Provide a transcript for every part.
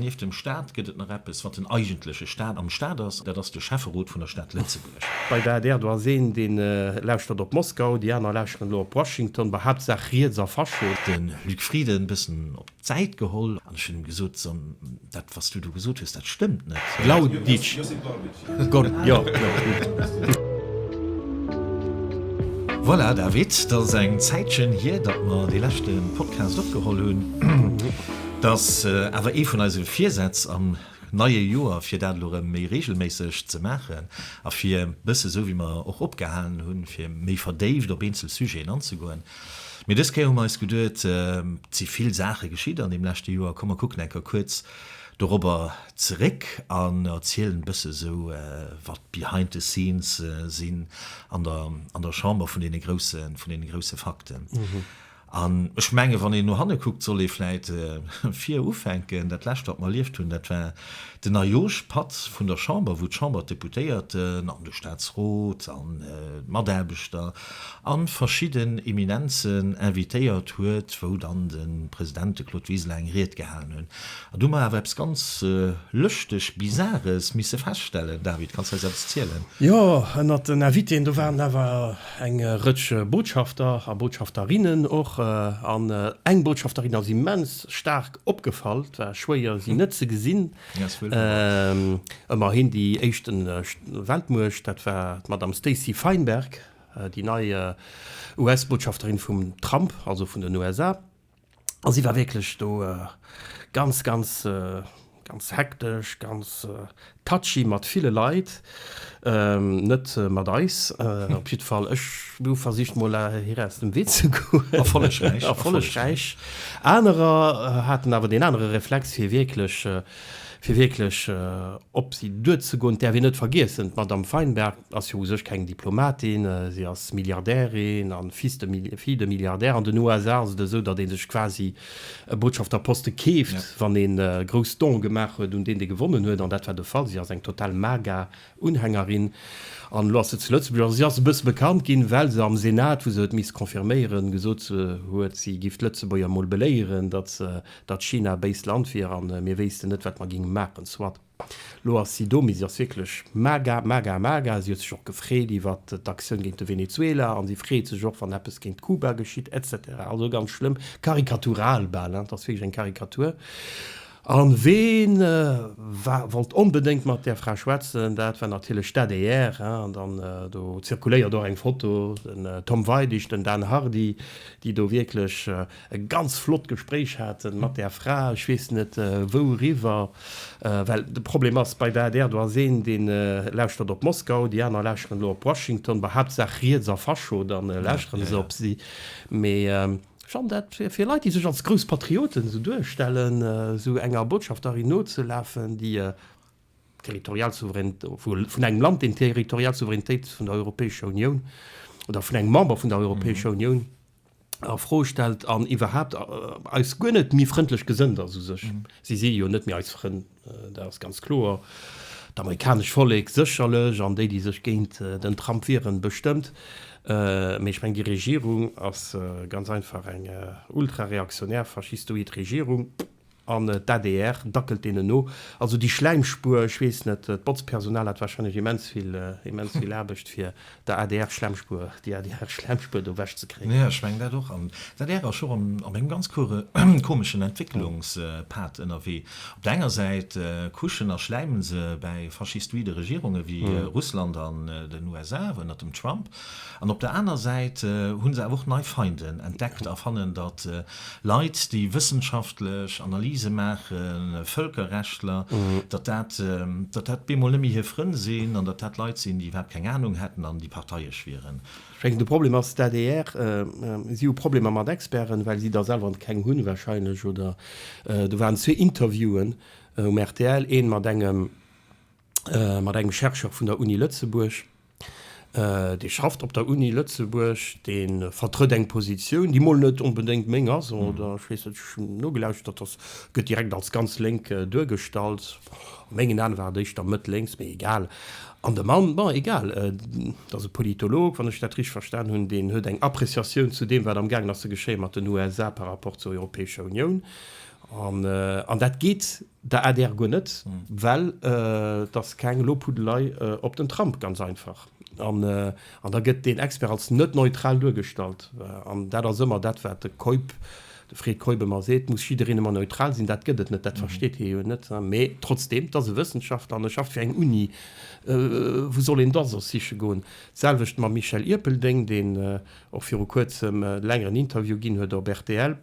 Nieft dem Staat gëtt et nach eppes, wat den eigentleche Staat am Staat ass, dat ass de Schäfferot vun der Stad Lëtzebuerg. Bei der ADR, do ass een, dee lauschtert op Moskau, déi aner lauschteren elo op Washington, bei Haaptsaach riets a Fascho. De Luc Frieden e bëssen op d'Säit geholl an ech hunn him gesot, Som, dat, wat s du do gesot hues, dat stëmmt net. Glauditsch. Voilà, David, dat ass eng Zäitchen hier, datt mer dee leschte Podcast opgeholl hunn. Dat ass awer ee vun eise Virsätz am neie Joer, fir dat elo erëm méi reegelméisseg ze maachen a fir e bësse, esou wéi mer och opgehalen hunn, fir méi verdéift op eenzel Sujeten anzegoen. Mee dës Kéier hu mer eis geduet, et si vill Saache geschitt an deem leschte Joer, komm mer kucken enker kuerz, dorobber zeréck an erzielen e bësse sou wat d'Behind the scenes sinn an der an der Chamber vun deene grousse vun deene grousse Fakten. An ech menge wann een no hanne kuckt, soll ee vläit vir ufänken. Dat lescht wat mer erlieft hunn, dat war den Ajosch Patt vun der Chamber, wou d'Chamber, d'Deputéierten an de Staatsrot an d'Mataarbechter an verschidden Eminenzen invitéiert huet, wou dann de President, de Claude Wiseler, eng Ried gehalen hunn. An do hu mer awer eppes ganz lëschteg, bisares misse feststellen. David, kanns eis eppes zielen? Jo, ënnert den Invitéen, do waren awer eng Rëtsch Botschafter a Botschafterinnen och. An eng Botschafterin ass immens staark opgefall, et war schwéier, si net ze gesinn. Ëmmerhin déi éischt Weltmuecht, dat war d'Madame Stacey Feinberg, déi nei US-Botschafterin vum Trump, also vun den USA. A si war wierklech do ganz, ganz, ganz hektesch, ganz touchy mat ville Leit. Net mat eis op jidd Fall. Ech hu versicht mol hir aus dem Wee ze goen. Erfollegräich. Erfollegräich. Anerer haten awer deen anere Reflex fir wierklech, fir wierklech op si duerzegoen. Et däerf een net vergiessen, d'Madame Feinberg ass jo u sech keng Diplomatin, si ass Milliardärin a Fils de, Fille de Milliardaire. An den USA ass et esou, datt ee sech quasi e Botschafterposte keeft, wann ee grouss Done gemaach huet un deen, dee gewonnen huet, an dat war de Fall. Si ass eng total MAGA-Unhängerin an elo ass se zu Lëtzebuerg. A si ass e bësse bekannt ginn, well se am Senat, wou se huet misst confirméieren, gesot huet, si giff d'Lëtzebuerger emol beléieren, datt China e béist Land wier a mir wéissten net, wat mer géinge maachen. Soit. Lo ass si do, mee si ass wierklech mager, mager, mager. Si huet sech och gefreet iwwer d'Aktioun géint de Venezuela an si freet sech och, wann eppes géint Kuba geschitt, etc. Also ganz schlëmm, karikatural bal, hein, et ass wierklech eng Karikatur. A ween war, wollt onbedéngt mat där Fra schwätzen, dat war natierlech d'ADR, hein. An dann, do zirkuléiert och eng Foto, den Tom Weidig, den Dan Hardy, déi do wierklech e ganz flott Gespréich haten mat där Fra, ech weess net wouriwwer, well de Problem ass bei der adr, do ass een dee lauschtert op Moskau, déi aner lauschteren elo op Washington, bon haaptsaach riets a Fascho, da lauschteren se op si. Mee Jeanne, dat fir Leit déi sech als grouss Patrioten esou duerstellen, esou enger Botschafterin nozelafen, déi territorial Souveraineté, vun engem Land deen territorial Souveränitéit vun der Europäescher Unioun oder vun engem Member vun der Europäescher Unioun, a Fro stellt an iwwerhaapt eis guer net méi frëndlech gesënnt ass u sech. Si si jo net méi eis Frënn, dat ass ganz kloer. D'amerikanescht Vollek sécherlech an déi, déi sech géint den Trump wieren, bestëmmt. Mee ech mengen, déi Regierung ass ganz einfach eng ultrareaktionär, faschistoid Regierung. An d'ADR dackelt deenen no. Also déi Schläimspur, ech weess net, d'Botzpersonal hat wahrscheinlech immens vill, immens vill Aarbecht, fir der ADR-Schlämmspur, déi ADR-Schlämmspur do wech ze kréien. Jo, ech mengen dat och. An d'ADR ass jo an engem ganz komeschen Entwécklungspad ënnerwee. Op der enger Säit kuschen a schläimen se bäi faschistoide Regierunge wéi Russland an den USA ënnert dem Trump. An op der aner Säit hu se awer och nei Feinden entdeckt a fannen, datt Leit, déi wëssenschaftlech Analyse maachen, Vëlkerrechtler, datt dat, datt dat bemol net méi hir Frënn sinn an datt dat Leit sinn, déi iwwerhaapt keng Anung hätten an déi parteiesch wieren. Ech mengen, de Problem ass d'ADR. Si hu Problemer mat Experten, well si der selwer keng hunn wahrscheinlech, oder do waren zwee Interviewen um rtl, ee mat engem, mat engem Chercheur vun der Uni Lëtzebuerg, dee schafft op der Uni Lëtzebuerg, dee vertrëtt eng Positioun, déi mol net onbedéngt meng ass, oder ech weess net, ech hunn nogelauschtert, dass gëtt direkt als ganz lénk duergestallt, a mengen Aen war et éischter mëtt-lénks, mee egal. An de Mann, bon, egal, et ass e Politolog, wann ech dat richteg verstan hunn, deen huet eng Appréciatioun zu deem, wat am gaangen ass ze geschéien mat den USA par rapport zur Europäescher Unioun, an dat geet Der adr guer net, well et ass keng Lobhudelei op den Trump, ganz einfach. An da gëtt deen Expert als net neutral duergestallt. An dat ass ëmmer dat, wat de Keup, de Fred Keup ëmmer seet, muss jiddereen ëmmer neutral sinn. Dat gëtt et net, dat versteet hie jo net. Mee trotzdeem, et ass e Wëssenschaftler an e schafft fir eng Uni. Wou soll een da soss siche goen? D'selwecht mam Michel Irpeldeng, deen och viru Kuerzem e längeren Interview ginn huet op rtl.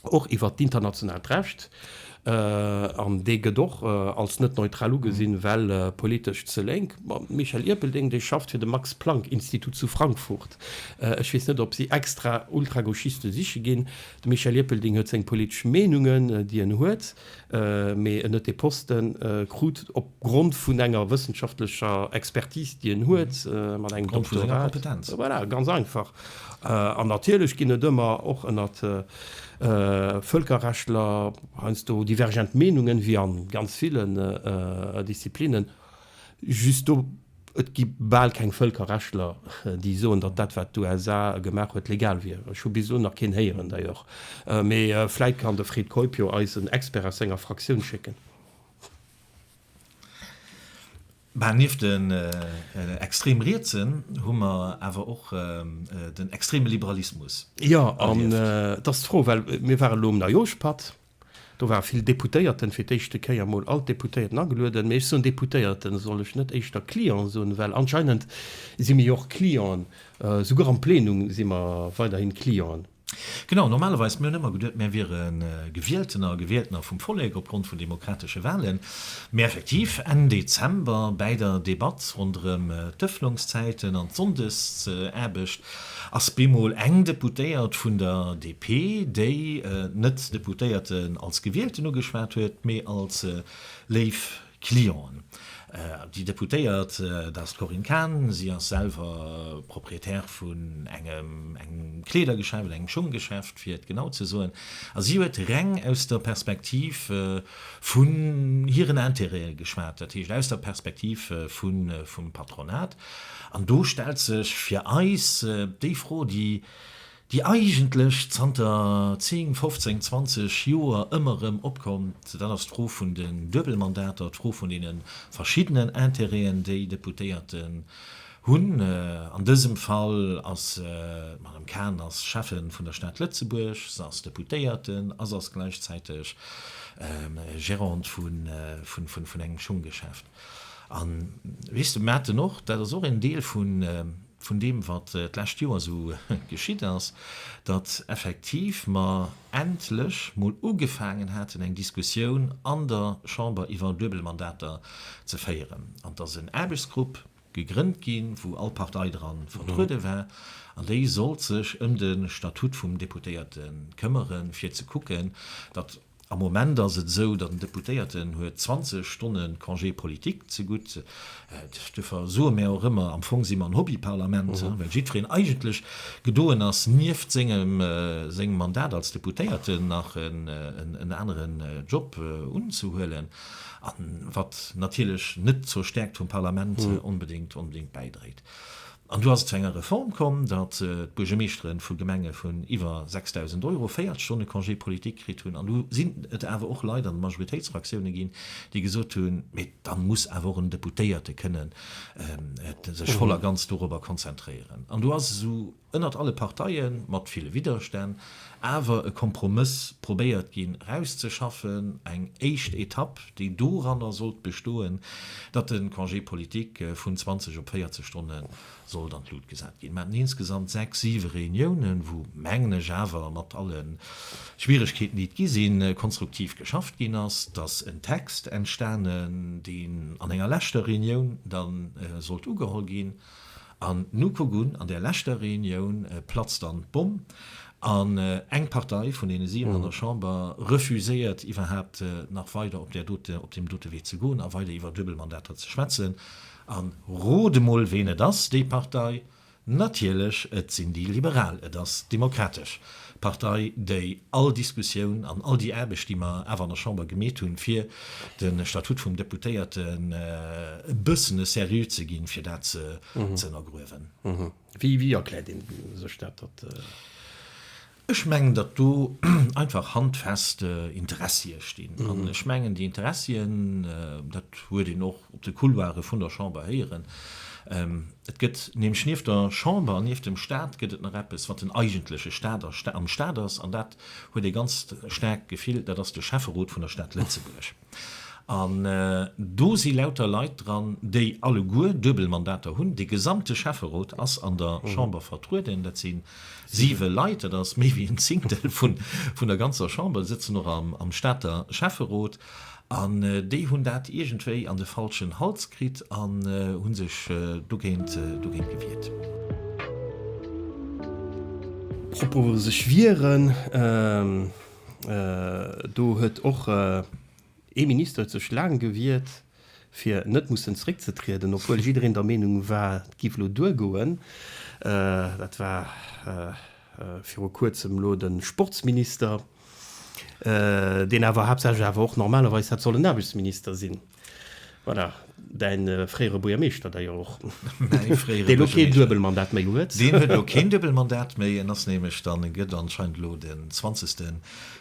och iwwert d'internationaalt Recht, an dee gëtt och als net neutral ugesinn, well politesch ze lénk. Mam Michel Erpelding, dee schafft fir de Max-Planck-Institut zu Frankfurt. Ech weess net, ob si extra Ultragauchiste siche ginn. De Michel Erpelding huet seng politesch Meenungen, déi en huet, mee en huet dee Poste krut op. Grond vun enger wëssenschaftlecher Expertise, déi en huet, mat engem Doktorat. Grond vun senger Kompetenz. Voilà, ganz einfach. An natierlech ginn et ëmmer och ënnert Vëlkerrechtler heiansdo divergent Meenungen, wéi a ganz villen Disziplinnen. Just do, et gi bal keng Vëlkerrechtler, déi soen, datt dat, wat d'USA gemaach huet, legal wier. Ech hu bis elo nach keen héieren, d'ailleurs. Mee vläit kann de Fred Keup jo eis en Expert aus senger Fraktioun schécken. Bah, nieft den extrem Rietsen hu mer awer och den extreme Liberalismus erlieft. Jo, an et ass d'Fro, well mir waren elo um Neijooschpatt, do ware vill Deputéierten, fir d'éischte Kéier emol all d'Deputéierten agelueden, mee ech soen Deputéierten, soll ech net éischter Clienten soen, well anscheinend si mir jo och Clienten, souguer am Plenum si mer weiderhin Clienten. Genau, normalerweis, mir hunn ëmmer geduet, mär wiere Gewieltener a Gewieltener vum Vollek opgrond vun demokratesche Wahlen. Mee effektiv, Enn Dezember bäi der Debatt ronderëm d'Ëffnungszäiten an d'Sonndesaarbecht ass bemol eng Deputéiert vun der DP, déi net d'Deputéierten als Gewielten ugeschwat huet, mee als léif Clienten. Déi Deputéiert, dat ass d'Corinne Cahen. Si ass selwer Propriétaire vun engem Kleedergeschäft oder engem Schonggeschäft, fir et genau ze soen. A si huet reng aus der Perspektiv vun hiren Intérêten geschwat, dat heescht aus der Perspektiv vum Patronat. An do stellt sech fir eis déi Fro, déi déi eigentlech zanter 10, 15, 20 Joer ëmmer erëm opkomm, dat ass d'Fro vun den Duebelmandater, d'Fro vun deene verschiddenen Intérêten, déi Deputéierten hunn. An dësem Fall ass d'Madame Cahen ass Schäffen vun der Stad Lëtzebuerg, se ass Deputéierten a se ass gläichzäiteg Gérante vun engem Schunggeschäft. An, weess de, Maarten, och dat ass och en Deel vun vun deem wat d'lescht Joer esou geschitt ass, datt effektiv mer endlech mol ugefaangen haten eng Diskussioun an der Chamber iwwer Duebelmandater ze féieren an datt en Aarbechtsgrupp gegrënnt ginn, wou all Partei dra vertruede war an déi sollt sech ëm de Statut vum Deputéierte këmmere fir ze kucken, datt. Am Moment ass et esou, datt en Deputéierten huet 20 Stonne Congé politique zegutt. Duerfir soe mir och ëmmer, am Fong si mer en Hobbyparlament, well jiddwereen eigentlech gedoen ass, nieft sengem Mandat als Deputéierten nach en aneren Job unzehuelen, wat natierlech net zur Stäerkt vum Parlament onbedéngt bäidréit. An du ass et zu enger Reform komm, datt d'Buergermeeschtere vu Gemenge vun iwwer 6.000 Euro 40 Stonne Congé politique kritt hunn. An du sinn et awer och Leit an de Majoritéitsfraktioune ginn, déi gesot hunn, mee dann muss awer och en Deputéierte kënnen sech voll a ganz dorobber konzentréieren. An du ass esou ënnert alle Parteie mat ville Widderstänn, awer e Kompromëss probéiert ginn rauszeschaffen, eng éischt Etapp, déi doranner sollt bestoen, datt de Congé politique vun 20 op 40 Stonne sollt an d'Lut gesat ginn. Mer haten insgesamt sechs, siwe Reuniounen, wou, mengen ech, awer mat alle Schwieregkeeten, déi et gi sinn, konstruktiv geschafft ginn ass, datt en Text entstanen, deen an enger leschter Reunioun da sollt ugeholl ginn. An nu kuck un, an där leschter Reunioun platzt dann d'Bomm an eng Partei vun deene 7 an der Chamber refuséiert iwwerhaapt nach weider op där dote, op deem dote Wee ze goen a weider iwwer Duebelmandater ze schwätzen. An rot emol ween et ass, déi Partei? Natierlech, et sinn déi Liberal, et ass d'Demokratesch Partei, déi all Diskussioun an all déi Aarbecht, déi mer awer an der Chamber gemeet hunn, fir de Statut vum Deputéierten e bëssen e Seriö ze ginn, fir dat ze ënnergruewen. Wéi erkläert ee sech dat, datt. Ech mengen, datt do einfach handfest Interessie stinn. An ech mengen, déi Interessien, dat huet een och. op de Couloire vun der Chamber héieren. Et gëtt nämlech nieft der Chamber an nieft dem Stat gëtt et nach eppes, wat den eigentleche Stat am Stat ass, an dat huet ee ganz staarkt Gefill, dat ass de Schäfferot vun der Stad Lëtzebuerg. An do si lauter Leit dran, déi alleguer duebel Mandater hunn. De gesamte Schäfferot ass an der Chamber vertrueden. Dat si siwe Leit, dat ass méi wéi en Zingtel vun der ganzer Chamber, sëtzen och am Stater Schäfferot. An déi hunn dat iergendwéi an de falschen Hals kritt an hu sech dogéint gewiert. Propos sech wieren, do huet och ee Minister huet sech laang gewiert, fir net mussen zréckzetrieden, obwuel jiddereen der Meenung war, et géif elo duergoen. Dat war viru Kuerzem elo de Sportsminister. deen awer haaptsächlech awer och normalerweis hätt sollen Aarbechtsminister sinn, voilà, däin fréiere Buergermeeschter d'ailleurs och, deen elo keen Duebelmandat méi huet. Deen huet elo keen Duebelmandat méi, en ass nämlech dann, e gëtt anscheinend elo den Zwanzegste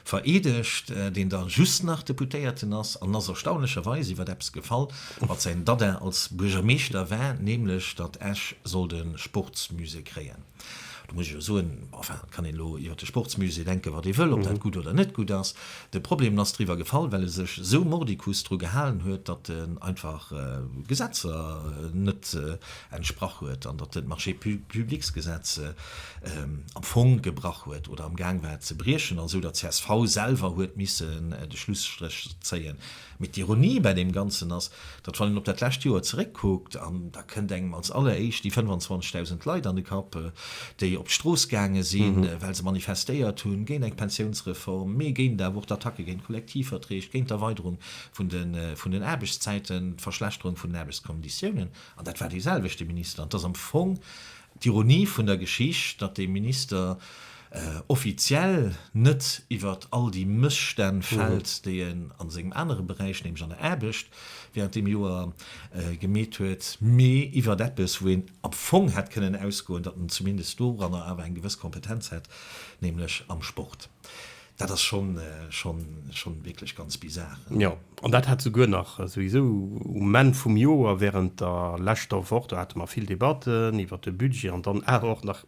vereedegt, deen da just nach Deputéierten ass, an en ass erstaunlecherweis iwwer eppes gefall, wat säin Dada als Buergermeeschter war, nämlech datt Esch sollt e Sportsmusée kréien. Do muss ech jo soen, enfin, et kann een elo iwwert de Sportsmusée denken, wat ee wëll, ob dat gutt oder net gutt ass. De Problem ass driwwer gefall, well e sech esou mordicus dru gehalen huet, datt en einfach Gesetzer net entsprach huet an datt en d'Marchés-publics-Gesetz am Fong gebrach huet oder amgaang war, et ze briechen, an esou datt csv selwer huet missen de Schlusstréch zéien. Mee d'Ironie bäi deem Ganzen ass, datt wann een op dat lescht Joer zeréckkuckt, an da kënnt engem als alleréischt déi 25.000 Leit an de Kapp, déi op d'Strooss gaange sinn, well se manifestéiert hunn, géint eng Pensiounsreform, mee géint awer och d'Attacke géint d'Kollektivverträg, géint d'Erweiderung vun den Aarbechtszäiten, d'Verschlechterung vun den Aarbechtskonditiounen, an dat war dee selwechte Minister. An 't ass am Fong d'Ironie vun der Geschicht, datt dee Minister, offiziell net iwwert all déi Mësstänn fält, déi en a sengem anere Beräich, nämlech an der Aarbecht, während deem Joer gemeet huet, mee iwwert eppes, wou een am Fong hätt kënnen ausgoen, datt en zumindest doranner awer eng gewëss Kompetenz hätt, nämlech am Sport. Dat ass schonn wierklech ganz bizar. Jo, an dat hat souguer nach souwisou um Enn vum Joer, während der leschter Woch, do hate mer vill Debatten iwwert de Budget an dann awer och nach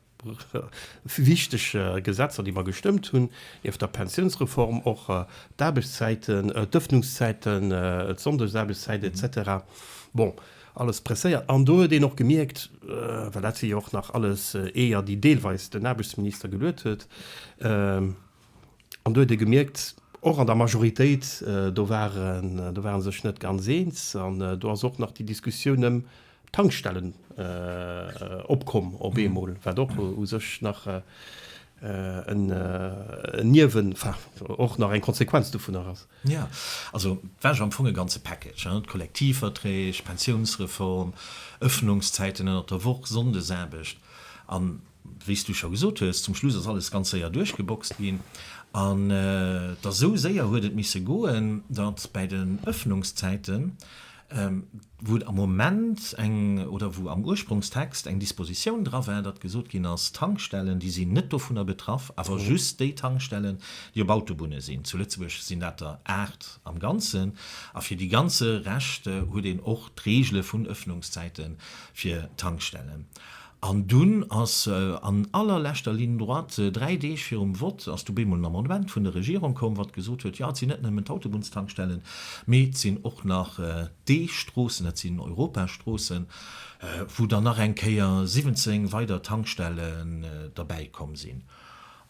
wichteg Gesetzer, déi mer gestëmmt hunn, nieft der Pensiounsreform och d'Aarbechtszäiten, d'Ëffnungszäiten, d'Sonndesaarbechtszäit et cetera. Bon, alles presséiert. An do huet een och gemierkt, well dat si jo och nach alles Eeër, déi deelweis den Aarbechtsminister geluet huet, An do huet ee gemierkt, och an der Majoritéit, do ware sech net ganz eens. An do ass och nach déi Diskussioun ëm d'Tankstellen opkomm op eemol, wat och u sech nach en Niewen, enfin och nach eng Konsequenz dovunner ass. Jo, also et war jo am Fong e ganze Package, d'Kollektivverträg, d'Pensiounsreform, Ëffnungszäiten ënnert der Woch, Sonndesaarbecht. An Wéi s du scho gesot hues, zum Schluss ass alles ganz séier duerchgeboxt ginn. An et ass esou séier huet et misse goen, datt bäi den Ëffnungszäiten, wou et am Moment eng, oder wou am Ursprungstext eng Dispositioun dra war, datt gesot ginn ass, d'Tankstellen, déi sinn net dovunner betraff, awer just déi Tankstellen, déi op Autobunne sinn. Zu Lëtzebuerg sinn dat der aacht am Ganzen. A fir déi ganze Rescht huet een och d'Reegele vun Ëffnungszäite fir Tankstellen. An dunn ass an allerleschter Ligne droite, dräi Deeg virum Vott, ass du bemol en Amendement vun der Regierung komm, wat gesot huet, jo, et sinn net nëmmen d'Autobunns-Tankstellen, mee et sinn och nach déi Stroossen, dat sinn Europastroossen, wou dann nach eng Kéier 17 weider Tankstellen derbäi komm sinn.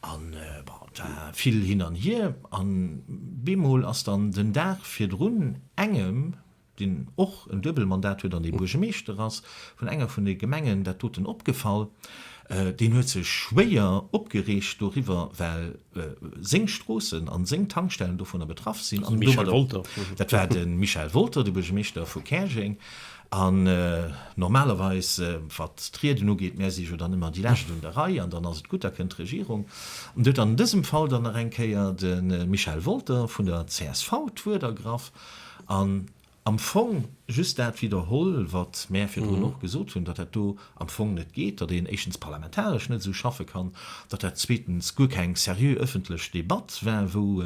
An bon, et war vill hin an hier. An bemol ass dann den Dag virdrun engem, deen och en Duebelmandat huet an ee Buergemeeschter ass vun enger vun de Gemengen, dat doten opgefall, deen huet sech schwéier opgereegt doriwwer, well seng Stroossen a seng Tankstellen dovunner betraff sinn. An domadder, dat war de Michel Wolter, de Buergemeeschter vu Käerjeng. An normalerweis, wat d'Rieden ugeet, mär si jo dann ëmmer déi Lescht un der Rei an dann ass et gutt, da kënnt d'Regierung. An do huet dann an dësem Fall dann nach eng Kéier de Michel Wolter vun der csv d'Wuert ergraff. An am Fong just dat widderholl, wat mär virdrun och gesot hunn, datt dat do am Fong net geet, datt een éischtens parlamentaresch net esou schaffe kann, datt dat zweetens guer keng seriö ëffentlech Debatt war, wou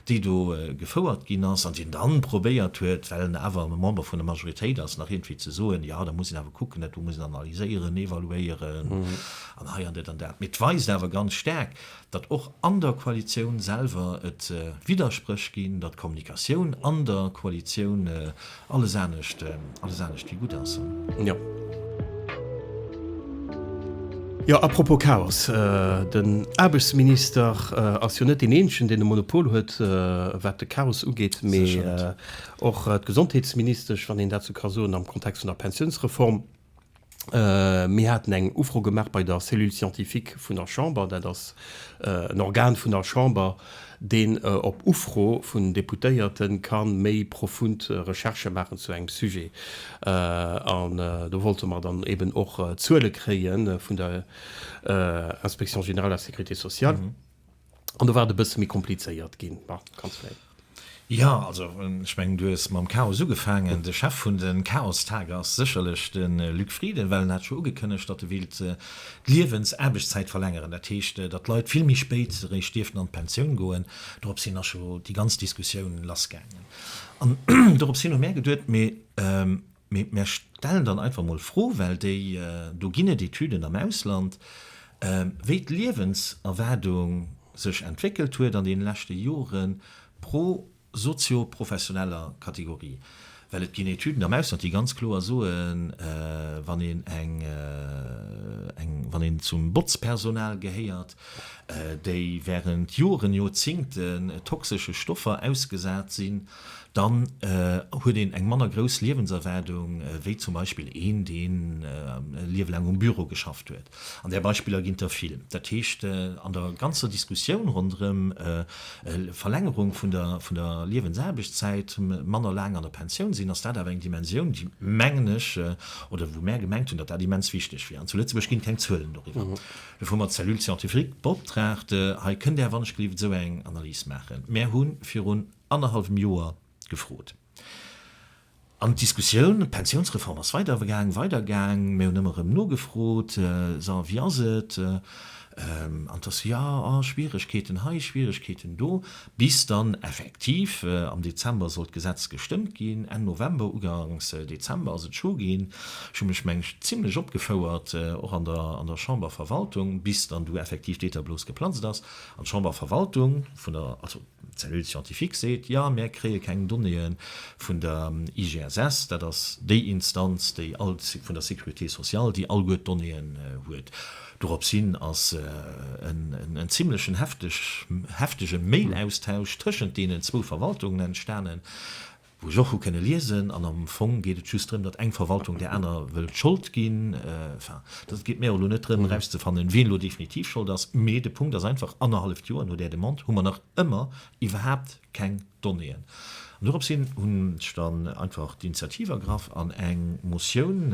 déi do gefouert ginn ass, an deen dann probéiert huet, well en awer e Member vun der Majoritéit ass, nach iergendwéi ze soen, Jo, da muss een awer kucken, dat do muss een analyséieren, evaluéieren an hei an dat an dat. Mee et weist awer ganz staark, datt och an der Koalitioun selwer et Widderspréch ginn, datt d'Kommunikatioun an der Koalitioun alles anescht alles anescht wéi gutt ass. Jo. Jo, à propos Chaos, den Aarbechtsminister ass jo net deen Eenzegen, deen e Monopol huet, wat de Chaos ugeet, mee och d'Gesondheetsministesch, wann een dat sou ka soen, am Kontext vun der Pensiounsreform. Mir haten eng Ufro gemaach bei der Cellule scientifique vun der Chamber, dat ass en Organ vun der Chamber, deen op Ufro vun Deputéierte ka méi profund Recherchë maachen zu engem Sujet. An do wollte mer dann eeben och Zuele kréie vun der Inspection générale de la sécurité sociale. an do war et e bësse méi komplizéiert ginn. Bon, kanns vläicht. Jo, also ech mengen, du hues mam Chaos ugefaangen. De Chef vun de Chaostage ass sécherlech de Luc Frieden, well en hat scho ugekënnegt, datt e wéilt d'Liewensaarbechtszäit verlängeren. Dat heescht, datt d'Leit vill méi spéit eréischt dierften an d'Pensioun goen. Dorops hin ass scho déi ganz Diskussioun lassgaangen. An dorops hin hu mär geduet, mee Mee mär stellen dann einfach mol d'Fro, well déi do ginn et Etüden am Ausland, wéi d'Liewenserwaardung sech entwéckelt huet an deene leschte Jore pro sozio-professioneller Kategorie. Well et ginn Etüden am Ausland, déi ganz kloer soen, wann een eng, wann een zum Botzpersonal gehéiert, déi während Joren, Joerzingten toxesche Stoffer ausgesat sinn, dann huet een eng manner grouss Liewenserwaardung wéi zum Beispill een, deen e Liewe laang um Büro geschafft huet. An där Beispiller ginn et der vill. Dat heescht, an der ganzer Diskussioun ronderëm Verlängerung vun der Liewensaarbechtszäit, manner laang an der Pensioun sinn, ass dat awer eng Dimensioun, déi, mengen ech, oder wou mär gemengt hunn, datt dat immens wichteg wier. An zu Lëtzebuerg ginn et keng Zuelen doriwwer. Dofir hu mer d'Cellule scientifique beoptraagt. Hei kënnt Är, wann ech gelift, esou eng Analys maachen. Mär hu virun. annerhallwem Joer gefrot. An d'Diskussioun, d'Pensiounsreform ass weidergaang, weidergaang. Mir hunn ëmmer erëm nogefrot, So, a wéi ass et? An et ass, Jo, oh, Schwieregkeeten hei, Schwieregkeeten do. Bis dann effektiv am Dezember sollt d'Gesetz gestëmmt ginn, Enn November, ugangs Dezember ass et scho ginn. Ech hu mech, meng ech, zimlech opgefouert, och an der Chamberverwaltung, bis dann du effektiv d'Eeterblos geplatzt ass an d'Chamberverwaltung vun der, also, D'Cellule scientifique seet, Jo, mär kréie keng Donnéeë vun der IGSS, dat ass déi Instanz, déi all vun der Sécurité sociale, déi alleguer d'Donnéeën huet. Dorops hin ass en zimlechen heftege Mailaustausch tëschent deenen zwou Verwaltungen entstanen. wou ech och hu kënne liesen, an am Fong geet et just drëm, datt eng Verwaltung där aner wëllt Schold ginn, enfin, et geet mir och elo net drëm erauszefannen, wien elo definitiv Schold ass, mee de Punkt ass einfach, annerhalleft Joer no där Demande hu mer nach ëmmer iwwerhaapt keng Donnéeën. An dorops hin hunn ech dann einfach d'Initiativ ergraff an eng Motioun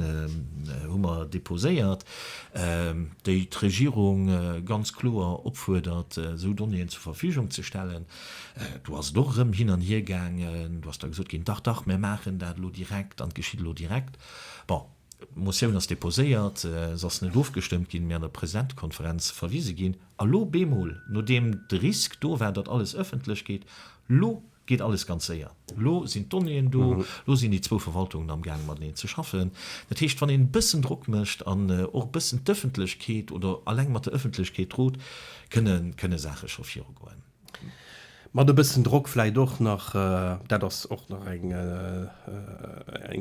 hu mer deposéiert, déi d'Regierung ganz kloer opfuerdert, esou Donnéeën zur Verfügung ze stellen. Do ass et och erëm hin an hier gaangen. Do ass da gesot ginn, Dach, dach, mir maachen dat elo direkt an et geschitt elo direkt. Bon, d'Motioun ass deposéiert, se ass net ofgestëmmt ginn, mee an der Presidentekonferenz verwise ginn. A lo bemol, nodeem de Risk do war, datt alles ëffentlech gétt, lo geet alles ganz séier. Elo sinn d'Donnéeën do, elo sinn déi zwou Verwaltungen am Gaang mateneen ze schaffen. Dat heescht, wann een e bëssen Drock mécht an och e bëssen d'Ëffentlechkeet oder alleng mat der Ëffentlechkeet rot, kënne Saache scho virugoen. Mat e bëssen Drock vläicht och nach, dat ass och nach eng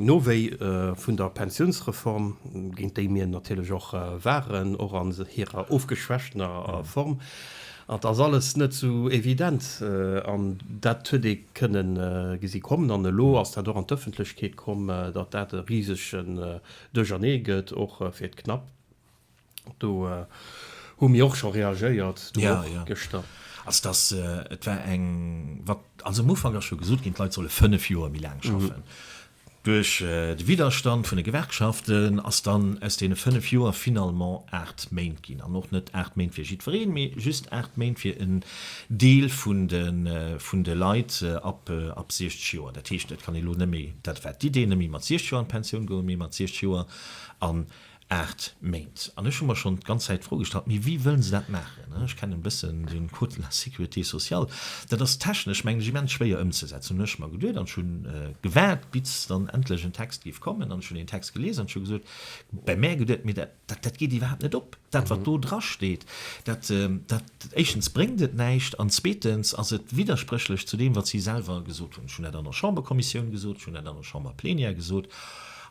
Nowéi vun der Pensiounsreform, géint déi mir natierlech och waren, och an hirer ofgeschwächtener Form, Et ass alles net esou evident an dat huet ee kënne gesi kommen an elo ass dat och an d'Ëffentlechkeet komm, datt dat e risege Duerchernee gëtt, och fir d'Knap. Do hu mir och scho reagéiert, du och gëschter. Also datt et war eng, wat also am Ufank ass scho gesot ginn, d'Leit solle fënnef Joer méi laang schaffen, Duerch de Widderstand vun de Gewerkschaften ass dann aus deene 5 Joer finalement 8 Méint ginn. An och net 8 Méint fir jiddwereen, mee just 8 Méint fir en Deel vun de Leit ab 60 Joer. Dat heescht, et kann ee lo net méi, dat wat d'Idee, net méi mat 60 Joer an d'Pensioun goen, mee mat 60 Joer an Aacht Méint. An ech hu mer schonn d'ganz Zäit d'Fro gestallt, mee wéi wëllen se dat maachen? Ech kennen e bëssen den Code de la sécurité sociale. Dat ass technesch, mengen ech, immens schwéier ëmzesetzen, hunn ech mer geduet. An ech hu gewaart, bis dann endlech en Text géif kommen. An ech hunn deen Text gelies an ech hu gesot, bei mär geduet, mee dat, dat geet iwwerhaapt net op, dat wat do dra steet. Dat, dat, éischtens bréngt et näischt an zweetens ass et widderspréchlech zu deem, wat si selwer gesot hunn. Ech hunn dat an der Chamberkommissioun gesot, ech hunn dat an der Chamberplenière gesot.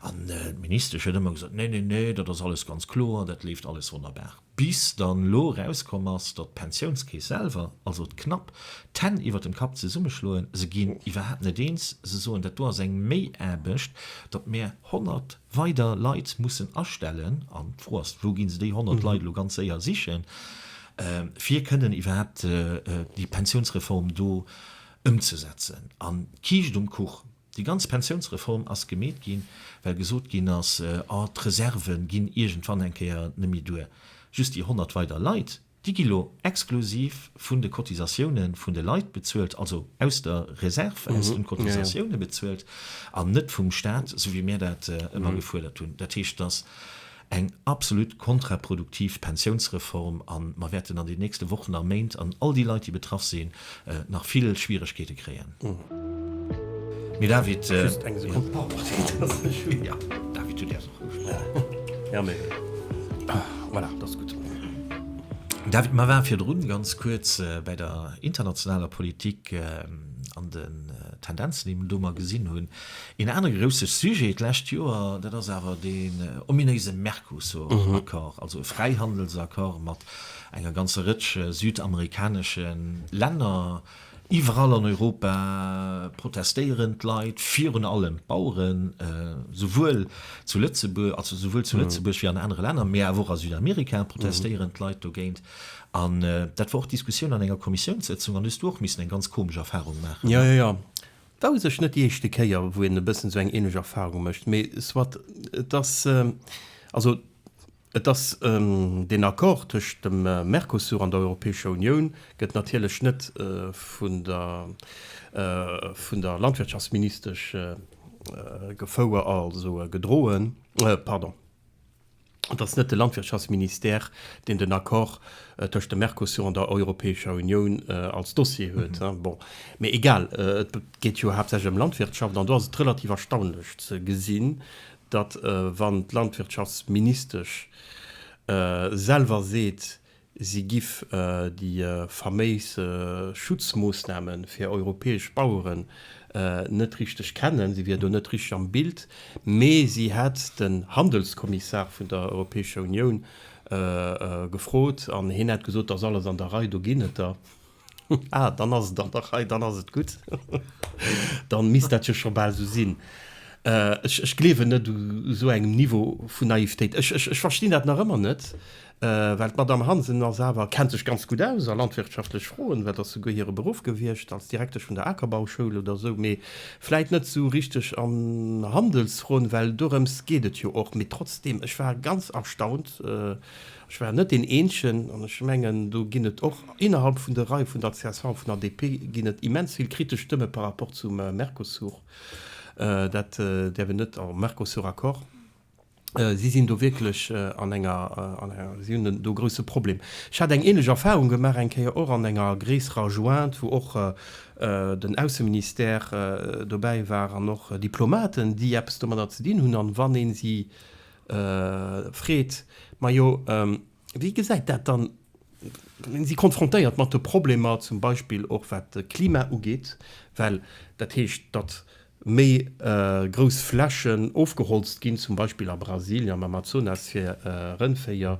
An d'Ministesch huet ëmmer gesot, Nee, nee, nee, dat ass alles ganz kloer, dat leeft alles wonnerbar. Bis dann elo erauskomm ass, datt d'Pensiounskeess selwer, also d'Knap, d'Hänn iwwer dem Kapp zesummeschloen, se ginn iwwerhaapt net eens, se soen, dat do ass eng Méiaarbecht, datt mär 100 weider Leit mussen astellen, an d'Fro ass, wou gi se déi 100 Leit elo ganz séier sichen, fir kënnen iwwerhaapt déi Pensiounsreform do ëmzesetzen. An d'Kiischt um Kuch, Déi ganz Pensiounsreform ass gemeet ginn, well gesot ginn ass, oh, d'Reserve ginn iergendwann eng Kéier nemme duer. Just déi 100 weider Leit, déi gi lo exklusiv vun de Cotisatioune vun de Leit bezuelt, also aus der Reserve, aus de Cotisatioune bezuelt an net vum Staat, esou wéi mir dat ëmmer gefuerdert hunn. Dat heescht, dass eng absolut kontraproduktiv Pensiounsreform a mer wäerten an den nächste Wochen a Méint, an all déi Leit, déi betraff sinn, nach vill Schwieregkeete kréien. Mme David, Mer waren virdrun ganz kuerz bäi der internationaler Politik an den Tendenzen, déi mer do gesinn hunn. Een anere grousse Sujet d'lescht Joer, dat ass awer deen ominéise Mercosur-Accord, also e Fräihandelsaccord mat enger ganzer Rëtsch südamerikanesche Länner. Iwwerall an Europa protestéieren d'Leit, virun allem d'Baueren, souwuel zu Lëtzebuerg, also souwuel zu Lëtzebuerg wéi an anere Länner, mä awer och a Südamerika protestéieren d'Leit dogéint. An dat war och d'Diskussioun an enger Kommissiounssëtzung. An do hues du och missen eng ganz komesch Erfarung maachen, ne? Jo, jo, jo. War u sech net déi éischte Kéier, wou een e bëssen esou eng ähnlech Erfahrung mécht, mee soit. Et ass also, et ass deen Accord tëscht dem Mercosur an der Europäescher Unioun gëtt natierlech net vun der, vun der Landwirtschaftsministesch gefouer, also gedroen, pardon. Et ass net de Landwirtschaftsministère, deen den Accord tëscht dem Mercosur an der Europäescher Unioun als Dossier huet. Bon, mee egal, et geet jo haaptsächlech ëm Landwirtschaft. An do ass et relativ erstaunlech ze gesinn, datt, wann d'Landwirtschaftsministesch selwer seet, Si giff déi faméis Schutzmoossnamen fir europäesch Baueren net richteg kennen, si wier do net richteg am Bild, mee si hätt den Handelskommissar vun der Europäescher Unioun gefrot an heen hätt gesot, et ass alles an der Rei, do ginn et der. Ah, dann ass et och nach hei, dann ass et gutt. Dann misst dat jo scho bal esou sinn. Ech, ech gleewen net u esou engem Niveau vun Naivetéit. Ech, ech, ech verstinn dat nach ëmmer net, well d'Madamm Hansen ass awer, kennt sech ganz gutt aus a landwirtschaftlech Froen, dat ass souguer hire Beruff gewiescht als Direktesch vun der Akerbauschoul oder esou, mee vläit net esou richteg an Handelsfroen, well dorëms geet et jo och. Mee trotzdem, ech war ganz erstaunt. Ech war net deen Eenzegen, an ech mengen, do ginn et och innerhalb vun de Reie vun der csv an vun der DP ginn et immens vill kritesch Stëmme par rapport zum Mercosur. Dat däerf een net, au Mercosur-Accord. Si sinn do wierklech an enger, si hunn do e grouse Problem. Ech hat eng ähnlech Erfahrung gemaach eng Kéier och an enger gréisserer Jointe, wou och den Ausseministère dobäi war an och Diplomaten, déi eppes domadder ze dinn hunn. An wann ee si Freed, Majo, wéi gesäit dat dann, mir si konfrontéiert mat de Problemer zum Beispill och wat de Klima ugeet, well dat heescht, datt méi grouss Flächen ofgeholzt ginn, zum Beispill a Brasilien am Amazonas, fir Rëndvéier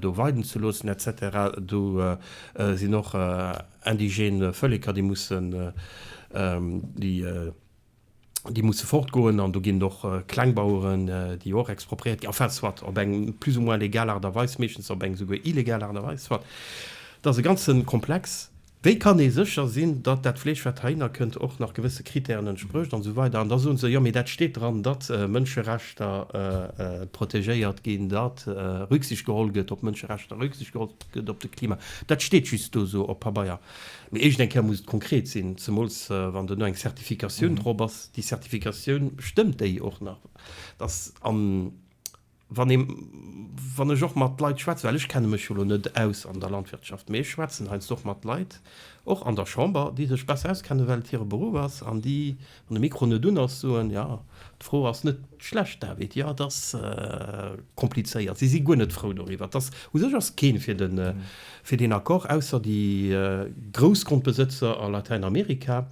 do weiden ze loossen et cetera. Do sinn och indigène Vëlleker, déi mussen déi. déi musse fortgoen an do ginn et och Klengbaueren, déi och expropriéiert ginn, enfin, soit, op eng plus ou moins legal Aart a Weis, meeschtens op eng esouguer illegal Aart a Weis, soit. Dat ass e ganze Komplex. Wéi kann ee sécher sinn, datt dat Fleesch, wat heihinner kënnt, och nach gewësse Krittären entsprécht an esou weider? An da soen se, Jo, mee dat steet dran, datt Mënscherechter protegéiert ginn, datt Rücksicht geholl gëtt op d'Mënscherechter, Rücksicht geholl gëtt op de Klima. Dat steet just do esou op Pabeier. Mee éischt eng Kéier muss et konkret sinn, zemools wann duerno eng Certificatioun drop ass. Déi Certificatioun, stëmmt déi och nach? Dass, a wann ee, wann ech och mat Leit schwätzen, well ech kenne mech jo elo net aus an der Landwirtschaft, mee ech schwätzen heiansdo och mat Leit, och an der Chamber, déi sech besser auskennen, well et hire Beruff ass an déi Wann de Mikro net un ass, soen, jo, d'Fro ass net schlecht, David, jo, et ass komplizéiert, si si guer net frou doriwwer. Et ass, u sech ass keen fir den, fir deen Accord, ausser déi Groussgrondbesëtzer a Latäinamerika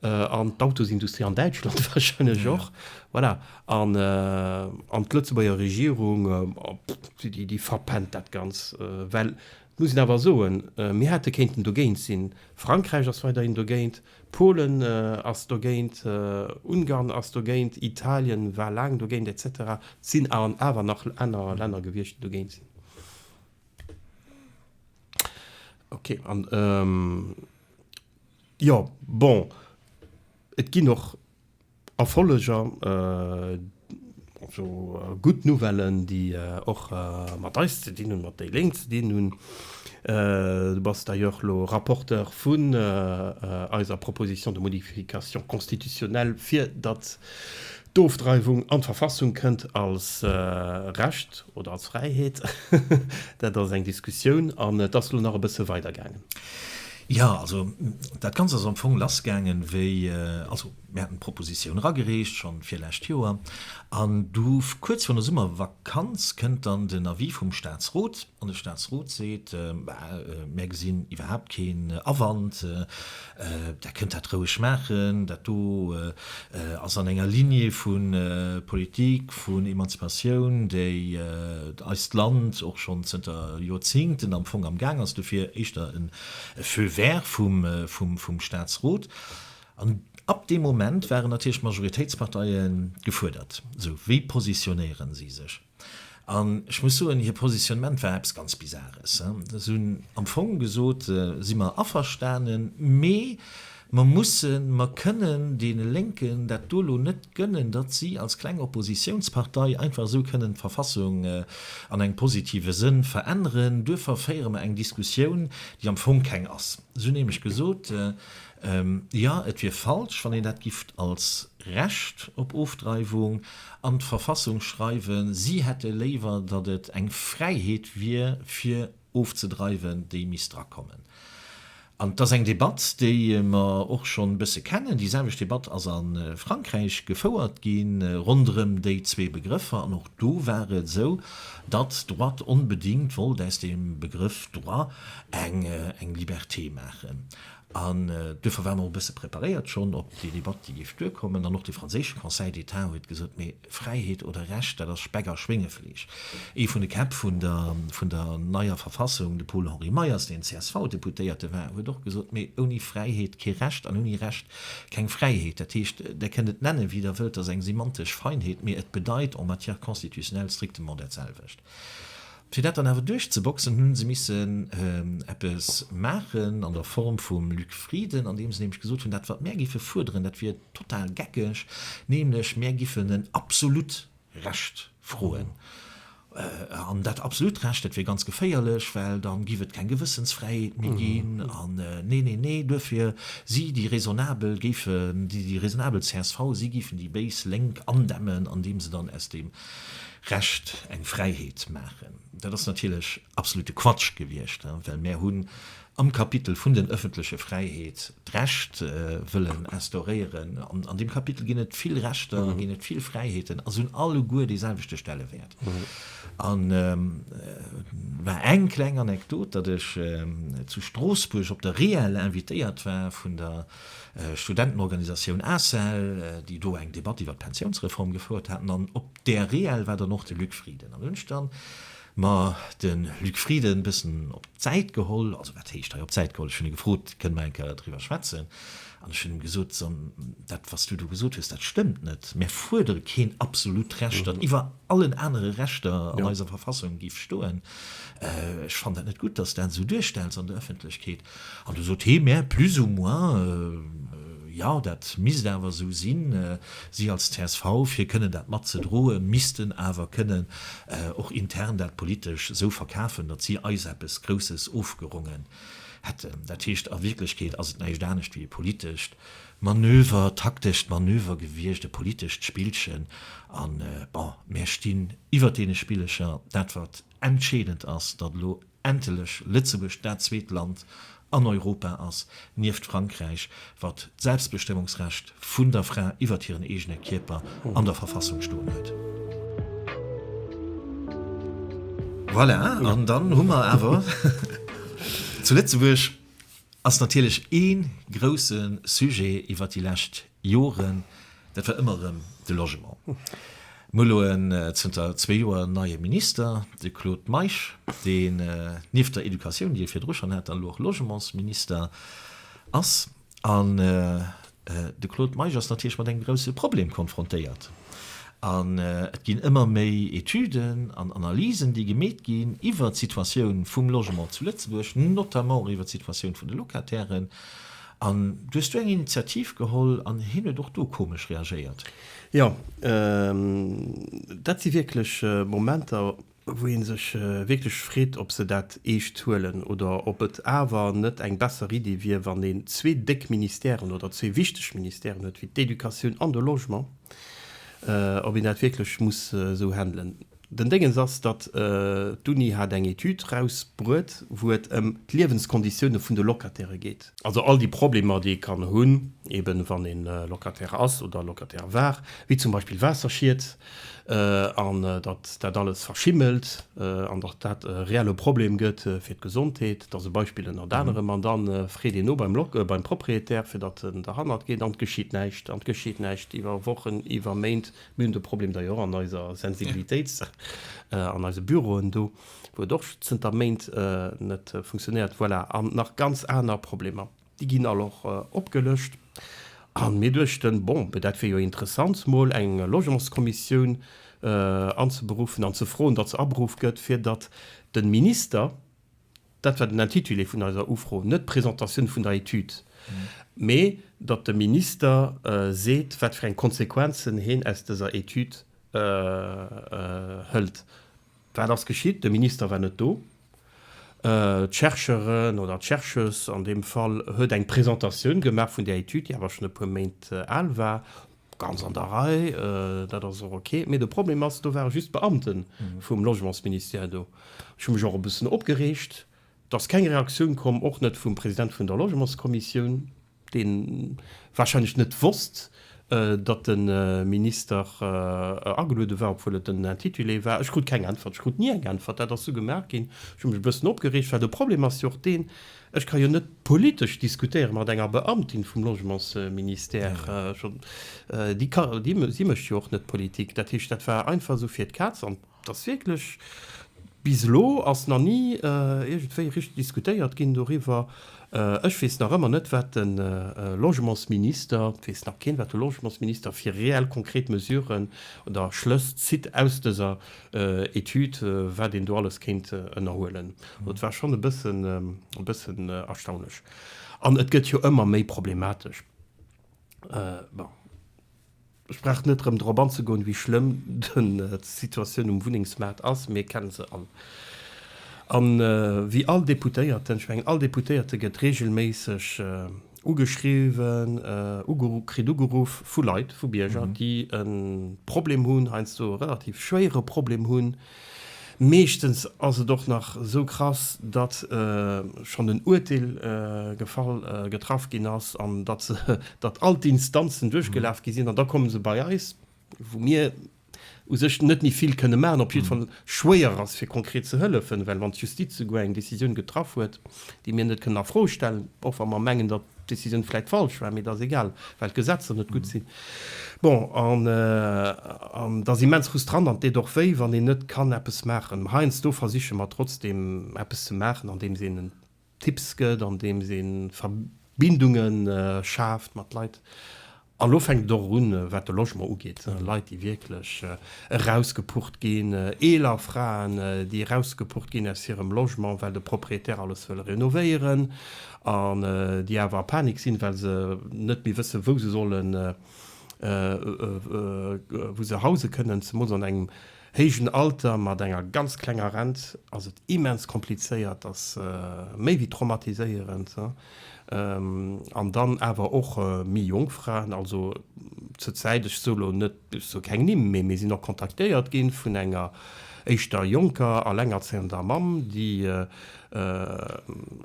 an d'Autosindustrie an Däitschland wahrscheinlech och. Voilà. An d'Lëtzebuerger Regierung, déi verpennt dat Ganz. Well, et muss een awer soen, mir hätte kéinten dogéint sinn, Frankräich ass weiderhin dogéint, Polen ass dogéint, Ungarn ass dogéint, Italien war laang dogéint, etc. Et sinn awer nach aner Länner gewiescht, déi dogéint sinn. Ok, an jo, bon, et ginn och Erfolleg a gutt Nouvellen, déi och mat eis ze dinn hunn, mat déi Lénk ze dinn hunn. Du bass d'ailleurs elo Rapporteur vun eiser Proposition de modification constitutionnelle, fir datt d'Ofdreiwung an d'Verfassung kënnt als Recht oder als Fräiheet. Dat ass eng Diskussioun an et ass elo nach e bësse weidergaangen. Jo, also dat Ganzt ass am Fong lassgaangen, wéi, also mir haten d'Proposition eragereecht, schonn virlescht Joer, an du kuerz virun der Summervakanz kënnt dann den Avis vum Statsrot, an de Statsrot seet, Mär gesinn iwwerhaapt keen Awand, Där kënnt dat roueg maachen, dat do. ass an enger Lignée vu Politik vun Emanzipatioun, déi eist Land och schonn zënter Joerzingten am Fong am Gaang ass, dofir éischter e Feu vert vum Staatsrot. An ab deem Moment waren natierlech d'Majoritéitsparteie gefuerdert, sou, Wéi positionéieren si sech? An ech muss soen, hir Positionnement war eppes ganz Bizares. Si hunn am Fong gesot, si mer averstanen, mee mer mussen, mer kënnen deene Lénken dat do elo net gönnen, datt si als kleng Oppositionspartei einfach esou kënnen d'Verfassung an engem positive Sënn veränneren. Duerfir féiere mer eng Diskussioun, déi am Fong keng ass. Si hunn nämlech gesot, Jo, et wier falsch, wann een dat gifft als Recht op Ofdreiwung an d'Verfassung schreiwen. Si hätte léiwer, datt et eng Fräiheet wier, fir ofzedreiwen, déi misst drakommen. An et ass eng Debatt, déi mer och schonn e bësse kennen. Déi selwecht Debatt ass a Frankräich gefouert gi ronderëm déi zwee Begrëffer. An och do war et esou, datt d'Droite onbedéngt wollt aus dem Begrëff droit eng Liberté maachen. An duerfir waren mer och e bësse preparéiert schonn op déi Debatt, déi géif duerkommen. An och de franséische Conseil d'État huet gesot, Mee Fräiheet oder Recht, dat ass Speck a Schwéngefleesch. Ee vun de Käpp vun der neier Verfassung, de Paul-Henri Meyers, deen CSV-Deputéierte war, huet och gesot, Mee ouni Fräiheet kee Recht an ouni Recht keng Fräiheet. Dat heescht, Der kënnt et nennen, wéi Der wëllt, dat ass eng semantesch Feinheet, mee et bedeit en matière constitutionnelle strictement dat selwecht. Fir dat dann awer duerchzeboxen, hu se missen eppes maachen an der Form vum Luc Frieden, andeem se nämlech gesot hunn, dat wat mär géife fuerderen, dat wier total geckeg, nämlech mär giffen en absolut Recht froen. An dat absolut Recht, dat wier ganz geféierlech, well da giff et keng Gewëssensfräiheet méi ginn. An nee, nee, nee, duerfir si déi raisonnabel, géifen déi raisonnabel csv, si giffen déi béis Lénk andämmen, andeem se dann aus deem Recht eng Fräiheet maachen. Dat ass natierlech absolute Quatsch gewiescht, well mär hunn am Kapitel vun den ëffentleche Fräiheet d'Recht wëllen instauréieren. An deem Kapitel ginn et vill Rechter, ginn et vill Fräiheeten a se hunn alleguer dee selwechte Stellewäert. An war eng kleng Anekdot, datt ech zu Stroossbuerg op der REEL invitéiert war vun der Studentenorganisatioun ACEL, déi do eng Debatt iwwer d'Pensiounsreform gefouert haten an op Där Reel war dann och de Luc Frieden. An hunn ech dann mer de Luc Frieden bëssen op d'Säit geholl, also wat heescht hei op d'Säit geholl, ech hunn e gefrot, kënne mer eng Kéier driwwer schwätzen? An ech hunn him gesot, so, dat wat s du do gesot hues, dat stëmmt net. Mär fuerdere keen absolut Recht, dat iwwer allen anere Rechter an eiser Verfassung géif stoen. Ech fannen dat net gutt, datt s dat esou duerstells an der Ëffentlechkeet. An du sot hee mär plus ou moins, jo, dat misst awer esou sinn, si als csv, fir kënnen dat mat ze droe missten awer kënnen och intern dat politesch esou verkafen, datt si eis eppes Grousses ofgerongen hätten. Dat heescht, a Wierklechkeet ass et näischt anescht wéi e politescht Manöver, taktescht Manöver gewiescht, e politescht Spillchen. An bon, mär stinn iwwert deene Spillecher. Dat wat entscheedend ass, datt elo endlech Lëtzebuerg dat zweet Land an Europa ass, nieft Frankräich, wat d'Selbstbestëmmungsrecht vun der Fra iwwert hiren eegene Kierper an der Verfassung stoen huet. Voilà, an dann hu mer awer, Zu Lëtzebuerg ass natierlech ee grousse Sujet iwwert déi lescht Joren, dat war ëmmer erëm de Logement. Mir hu elo en, zënter zwee Joer, neie Minister, de Claude Meisch, deen nieft der Educatioun, déi e virdru schonn hat, dann elo och Logementsminister ass. An de Claude Meisch ass natierlech mat engem grouse Problem konfrontéiert. An et ginn ëmmer méi Etüden an Analysen, déi gemeet ginn iwwert d'Situatioun vum Logement zu Lëtzebuerg, notamment och iwwert d'Situatioun vun de Locatairen. An du hues do eng Initiativ geholl an hien huet och do komesch reagéiert. Jo, dat si wierklech Momenter, wou ee sech wierklech freet, ob se dat eescht huelen oder ob et awer net eng besser Iddi wier, wann een zwee déck Ministèren oder zwee wichteg Ministèren huet wéi d'Educatioun an de Logement, ob een dat wierklech muss esou handelen. Den Déngens ass, datt d'Uni hat eng Etüd rausbruet, wou et ëm d'Liewenskonditioune vun de Locataire geet. Also all déi Problemer, déi ee kann hunn, eben wann ee Locataire ass oder Locataire war, wéi zum Beispill Waasserschied, an datt dat alles verschimmelt, an datt dat e reelle Problem gëtt fir d'Gesondheet. Dat ass e Beispill ënnert anerem. An da freet een no beim Propriétaire, fir datt en derhannert geet, an et geschitt näischt. An et geschitt näischt iwwer Wochen, iwwer Méint, Mir hunn de Problem da jo och an eiser Sensibilitéit, an eise Büroen do, wou et och zënter Méint net funktionéiert. Voilà, an nach ganz aner Problemer. Déi ginn all och opgelëscht. A mir duechten, bon, dat wier jo interessant, mol eng Logementskommissioun anzeberuffen an ze froen, datt se aberuff gëtt, fir datt de Minister, Dat war den Intitulé vun eiser Ufro, net d'Presentatioun vun der Etüd, mee datt de Minister seet, wat fir eng Konsequenzen heen aus dëser Etüd hëlt. Wat ass geschitt? De Minister war net do. D'Chercheuren oder d'Chercheuse an deem Fall huet eng Presentatioun gemaach vun där Etüd, déi awer schonn e puer Méint al war. Ganz an der Rei, dat ass och ok. Mee de Problem ass, do ware just d'Beamte vum Logementsministère do. Ech hu mech och e bëssen opgereegt, dass keng Reaktioun komm, och net vum President vun der Logementskommissioun, dee warscheinlech net wosst, datt de Minister ageluede war, obwuel et den Intitulé war. Ech krut keng Äntwert. Ech krut ni eng Äntwert. Dat ass sou gemaach ginn. Ech hu mech e bëssen opgereegt, well de Problem ass jo och deen, Ech ka jo net politesch diskutéiere mat enger Beamtin vum Logementsministère. Si mécht jo och net Politik. Dat heescht, dat war einfach esou fir d'Kaz. An et ass wierklech, bis elo ass nach ni iergendwéi richteg diskutéiert ginn doriwwer. Ech weess nach ëmmer net, wat de Logementsminister, et weess nach keen, wat de Logementsminister fir reell konkret Mesuren oder Schlëss zitt aus dëser Etude, wat een do alles kéint ënnerhuelen. Et war schonn e bëssen, e bëssen erstaunlech. An et gëtt jo ëmmer méi problematesch. Bon, ech brauch net erëm drop anzegoen, wéi schlëmm d'Situatioun um Wunnengsmaart ass. Mir kenne se all. A wéi all Deputéierten, ech mengen, all Deputéierte gëtt reegelméisseg, ugeschriwwen, ugeru, kritt ugeruff vu Leit, vu Bierger, déi e Problem hunn, heiansdo e relativ schwéiere Problem hunn. Meeschtens ass et och nach esou krass, datt schonn en Urteel gefall, getraff ginn ass an datt se, datt all d'Instanzen duerchgelaf gi sinn an da komme se bei eis, wou mir u sech net méi vill kënne maachen, op jidde Fall schwéier ass, fir konkret ze hëllefen, well wann d'Justiz souguer eng Décisioun getraff huet, déi mir net kënnen a Fro stellen, och wa mer mengen, datt d'Décisioun vläicht falsch war, mee dat ass egal, well d'Gesetzer net gutt sinn. Bon, an dat ass immens frustrant an et deet och wéi, wann een net kann eppes maachen. Mä heiansdo versiche mer trotzdeem eppes ze maachen, andeems een en Tipps gëtt, andeems ee Verbindunge schaaft mat Leit. An elo fänkt et och un, wat de Logement ugeet, Leit, déi wierklech erausgepucht ginn, eeler Fraen, déi erausgepucht ginn aus hirem Logement, well de Propriétaire alles wëll renovéieren, an déi awer a Panik sinn, well se net méi wëssen, wou se sollen, wou se hause kënnen, zemools an engem héijen Alter mat enger ganz klenger Rent ass et immens komplizéiert, ass méi wéi traumatiséierend, an dann awer och méi jonk Fraen, also zur Zäit, ech sou lo net, ech soe keng Nimm, mee mir sinn och kontaktéiert gi vun enger éischter jonker alengerzéiender Mamm, déi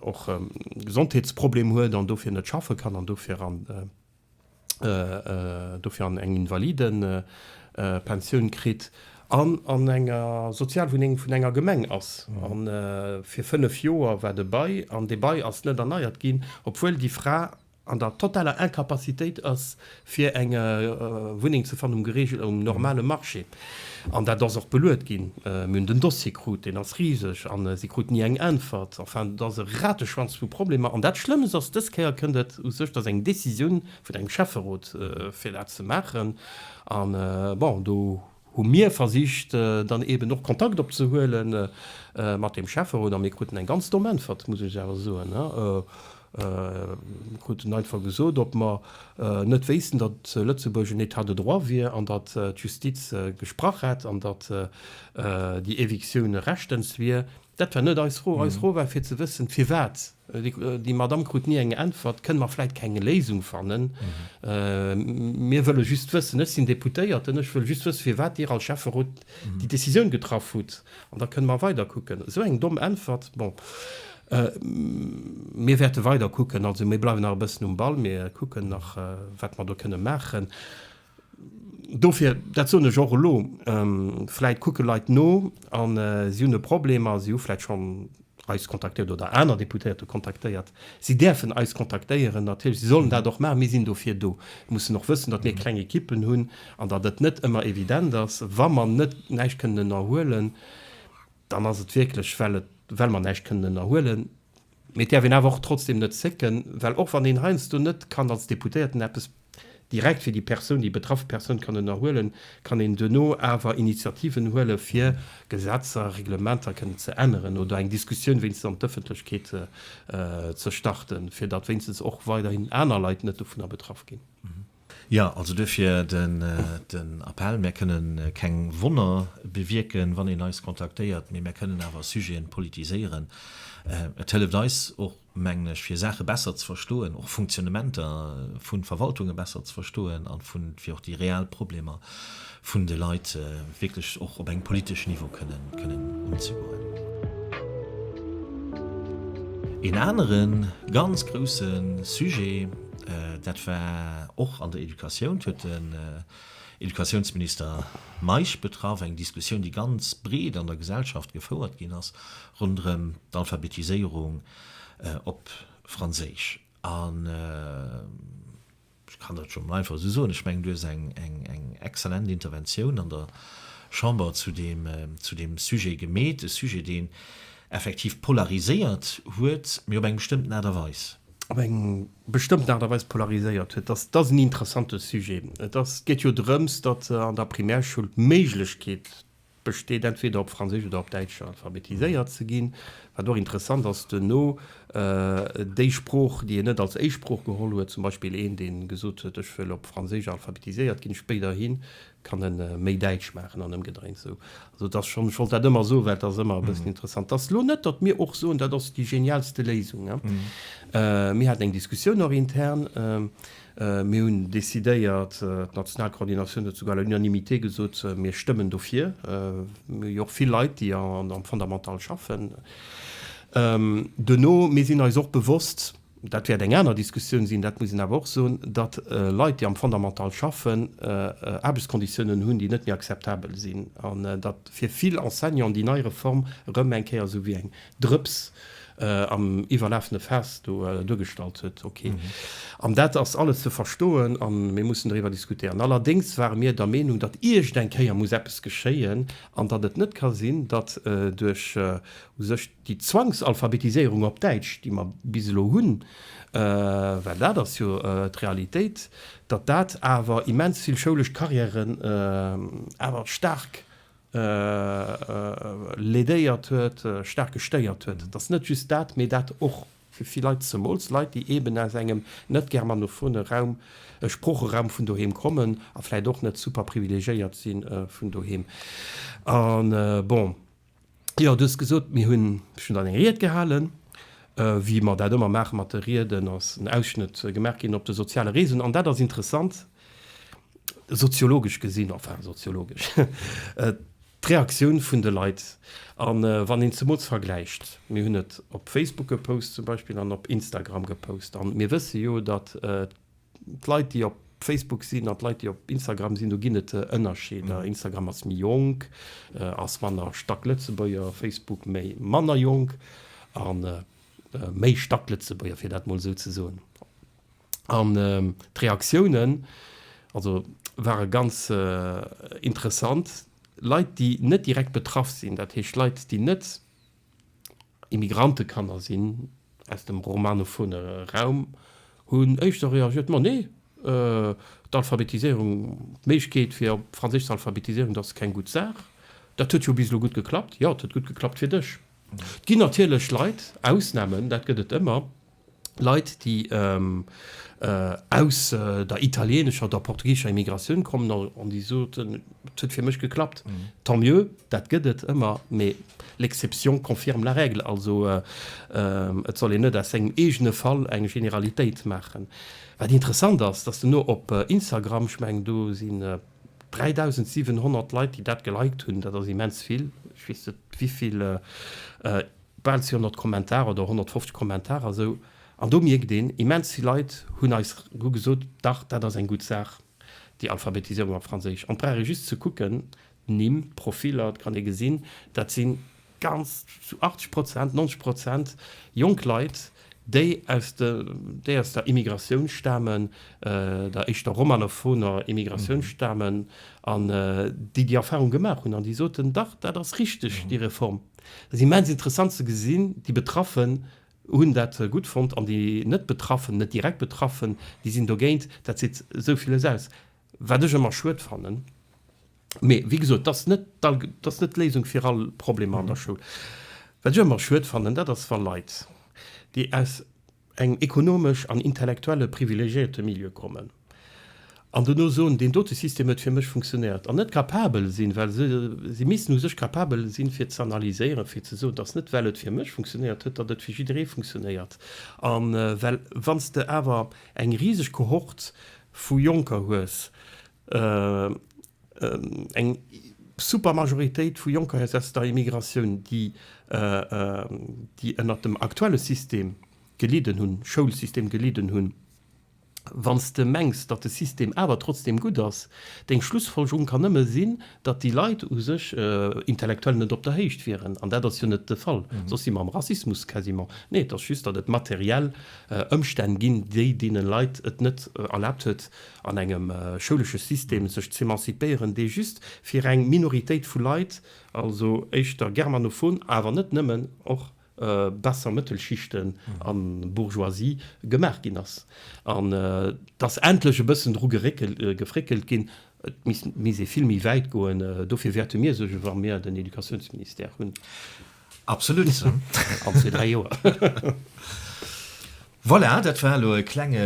och e Gesondheetsproblem huet an dofir net schaffe kann an dofir an dofir an eng Invalidenpensioun kritt an an enger Sozialwunneng vun enger Gemeng ass an fir 5 Joer war de Bail an dee Bail ass net erneiert ginn, obwuel déi Fra an der totaler Incapacitéit ass fir eng Wunneng ze fannen um normale Marché. An dat ass och beluet ginn. Mir hunn den Dossier krut, deen ass riseg a si krut ni eng Äntwert. Enfin, et ass e Rateschwanz vu Problemer. An dat Schlëmmst ass, dës Kéier kënnt et u sech, dass eng Décisioun vun engem Schäfferot, fir dat ze maachen, an bon, do hu mir versicht dann eeben och Kontakt opzehuele mat deem Schäfferot a mir kruten eng ganz domm Äntwert, muss ech awer soen. Mir kruten einfach gesot, ob mer net wéissten, datt Lëtzebuerg en État de droit wier an datt d'Justiz gesprach hätt an datt déi Evictioun rechtens wier. Dat war net eis Fro. Eis Fro war fir ze wëssen, firwat. Déi Madamm krut ni eng Äntwert. Kënne mer vläit keng Léisung fannen? Mir wëlle just wëssen, ech sinn Deputéierten, ech wëll just wëssen, firwat Dir als Schäfferot déi Decisioun getraff hutt. An da kënne mer weider kucken. Esou eng domm Äntwert, bon. Mir wäerte weider kucken. Also mir bleiwen nach e bëssen um Ball, mir kucken nach, wat mer do kënne maachen. Dofir, dat soen ech och elo, vläit kucke Leit no a si hunn e Problem a si hu vläit schonn, eis kontaktéiert oder aner Deputéierte kontaktéiert. Si däerfen eis kontaktéieren, natierlech, si sollen dat och maachen. Mir sinn dofir do. Et muss en och wëssen, datt mir kleng Ekippen hunn an datt et net ëmmer evident ass. Wa mer net näischt kënnen ënnerhuelen, dann ass et wierklech, well et, well mer näischt kënnen ënnerhuelen. Mee et däerf een awer och trotzdeem net zécken, well och wann een heiansdo net kann als Deputéierten eppes Direkt fir déi Persoun, déi betraff Persoun kann ënnerhuelen, kann een duerno awer Initiativen huele fir Gesetzer, Reglementer kënnen ze änneren oder eng Diskussioun wéinstens an d'Ëffentlechkeet ze starten, fir datt wéinstens och weiderhin aner Leit net dovunner betraff ginn. Jo, also duerfir den Appell, Mär kënne keng Wonner bewierken, wann een eis kontaktéiert, mee mär kënnen awer Sujeten politiséieren. Et hëlleft eis och, mengen ech, fir Saache besser ze verstoen, och Funktionnementer vu Verwaltunge besser ze verstoen a fir och déi real Problemer vun de Leit wierklech och op engem politeschen Niveau kënnen unzegoen. Een anere ganz grouse Sujet, dat war och an der Educatioun, huet de Educatiounsminister Meisch betraff, eng Diskussioun, déi ganz breet an der Gesellschaft gefouert ginn ass ronderëm d'Alphabetiséierung op Franséisch. An ech kann dat jo emol einfach esou soen, ech mengen, do ass eng exzellent Interventioun an der Chamber zu deem Sujet gemeet, e Sujet, deen effektiv polariséiert huet, mee op eng bestëmmten Aart a Weis. op eng bestëmmten Aart a Weis polariséiert huet. Et ass en interessante Sujet. Et ass, et geet jo drëms, datt an der Primärschoul d'Méiglechkeet besteet, entweder op Franséisch oder op Däitsch alphabetiséiert ze ginn, wat och interessant ass, duerno déi Sprooch, déi een net als éischt Sprooch geholl huet, zum Beispill een, dee gesot huet, ech wëll op Franséisch alphabetiséiert ginn, spéiderhi Kann en méi däitsch maachen an emgedréint sou. Also et ass schon, ech wollt dat ëmmer soen, well et ass ëmmer e bëssen interessant. Et ass lo net, datt mir och soen, dat ass déi genialste Léisung. Mir haten eng Diskussioun och intern. Mir hunn decidéiert, d'national Coordinatioun huet souguer à l'unanimité gesot, mir stëmmen dofir. Mir hu jo och vill Leit, déi am Fondamental schaffen. Duerno, mir sinn eis och bewosst, Dat wäert eng aner Diskussioun sinn. Dat muss een awer och soen, datt Leit, déi am Fondamental schaffen, Aarbechtskonditiounen hunn, déi net méi akzeptabel sinn, an datt fir vill Enseignanten déi nei Reform erëm eng Kéier esou wéi eng Drëps am iwwerlafene Faass do duergestallt huet. Ok. An dat ass alles ze verstoen a mir mussen doriwwer diskutéieren. Allerdéngs ware mir der Meenung, datt iergendeng Kéier muss eppes geschéien an datt et net ka sinn, datt duerch u sech Déi Zwangsalphabetiséierung op Däitsch, déi mer bis elo hunn, well dat ass jo d'Realitéit, datt dat awer immens vill schoulesch Carrièren awer staark lädéiert huet, staark gestéiert huet. Et ass net just dat, mee dat och fir vill Leit, zemools Leit, déi eeben aus engem net germanophone Raum, Sproocheraum vun doheem kommen a vläicht och net super privilegiéiert si vun doheem. An bon, Jo, du hues gesot, mir hunn, ech hunn dann eng Ried gehalen, wéi mer dat ëmmer maachen mat de Rieden, ass en Ausschnëtt gemaach ginn op de soziale Reseauen. An dat ass interessant, soziologesch gesinn, enfin soziologesch, d'Reaktioun vun de Leit. A wann een zemools vergläicht, mir hunn et op Facebook gepost zum Beispill an op Instagram gepost, a mir wësse jo, datt D'Leit, déi op Facebook sinn, an d'Leit, déi op Instagram sinn, do ginn et Ënnerscheeder. Instagram ass méi jonk, ass manner Stacklëtzebuerger, Facebook méi manner jonk a méi Stacklëtzebuerger, fir dat mol esou ze soen. An d'Reaktiounen also ware ganz interessant. Leit, déi net direkt betraff sinn, dat heescht Leit, déi net Immigrantekanner sinn aus dem romanophone Raum, hunn éischter reagiert, Ma nee, d'Alphabetiséierung, d'Méiglechkeet fir op Franséisch ze alphabetiséieren, dat ass keng gutt Saach. Dat huet jo bis elo gutt geklappt. Jo, et huet gutt geklappt fir dech. Et ginn natierlech Leit, Ausnamen, dat gëtt et ëmmer. Leit, déi aus der italieenescher oder portugiesescher Immigratioun kommen an déi soten, et huet fir mech geklappt. Tant mieux, dat gëtt et ëmmer, mä l'exception confirme la règle. Also et soll een net aus sengem eegene Fall eng Generalitéit maachen. Wat interessant ass, dass duerno op Instagram, ech mengen do sinn 3.700 Leit, déi dat geliked hunn, dat ass immens vill, ech weess net wéi vill bal 200 Kommentarer oder 150 Kommentarer esou an do mierkt een, immens vill Leit hunn eis hu gesot, dach dat ass eng gutt Saach, déi Alphabetisierung op Franséisch. An et brauch ee just ze kucken, d'Nimm, d'Profiler, et kann ee gesinn, dat si ganz zu 80 Prozent, 90 Prozent jonk Leit, déi aus der Immigratioun stamen, der éischter romanofoner Immigratioun stamen, an déi déi Erfahrung gemaach hunn an déi soten, dach, dat ass richteg, déi Reform. Dat ass immens interessant ze gesinn, déi Betraffen hunn dat gutt fonnt an déi net Betraffen, net direkt Betraffen, déi sinn dogéint. Dat seet esou villes aus. Wat ech ëmmer schued fannen. Mee wéi gesot, dat ass net d'Léisung fir all Problemer an der Schoul. Wat ech ëmmer schued fannen, dat ass, wa Leit, déi aus engem ekonomesch an intellektuelle privilegiéierte Milieu kommen an dono soen, deen dote System huet fir mech funktionéiert, an net capabel sinn, well si missten u sech capabel sinn, fir ze analyséieren, fir ze soen, dass net well et fir mech funktionéiert huet, datt et fir jidderee funktionéiert. A well, wann s de awer eng riseg Kohort vu Jonker hues, eng super Majoritéit vu Jonker hues aus der Immigratioun, déi ënnert dem aktuelle System gelidden hunn, Schoulsystem gelidden hunn, wann s de mengs, datt de System awer trotzdeem gutt ass, deng Schlussfolgerung kann nëmme sinn, datt déi Leit u sech intellektuell net op der Héicht wieren, an dat ass jo net de Fall, soss si mer am Rassismus quasiment. Nee, et ass just, datt et materiell Ëmstänn ginn, déi deene Leit et net erlaabt huet, an engem schoulesche System sech z'emancipéieren, dee just fir eng Minoritéit vu Leit, also éischter germanophon, awer net nëmmen, och. besser Mëttelschichten a Bourgeoisie gemaach ginn ass an et ass endlech e bëssen dru gefréckelt ginn. Et misst ee vill méi wäit goen. Dofir wäerte mir sech, wa mir den Educatiounsministère hunn, absolutt an zwee, dräi Joer, Voilà, dat war elo e klenge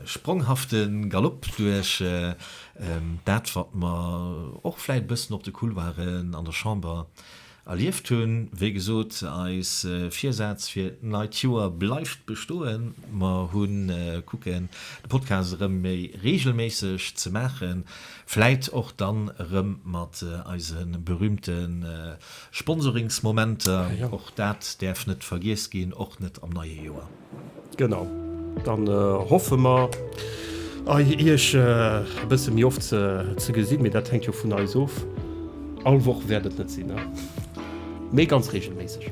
spronghafte Galopp duerch dat, wat mer och vläicht e bëssen op de Couloiren an der Chamber, Erlieft hunn. Wéi gesot, eis Virsaz fir d'neit Joer bleift bestoen. Mer hunn kucken, de Podcast erëm méi reegelméisseg ze maachen, vläit och dann erëm mat eise berühmte Sponsoringsmomenter. Och dat däerf net vergiess ginn, och net am neie Joer. Genau, dann hoffe mer Iech e bësse méi oft ze gesinn, mee dat hänkt jo vun eis of. All Woch wäert et net sinn, mee ganz reegelméisseg.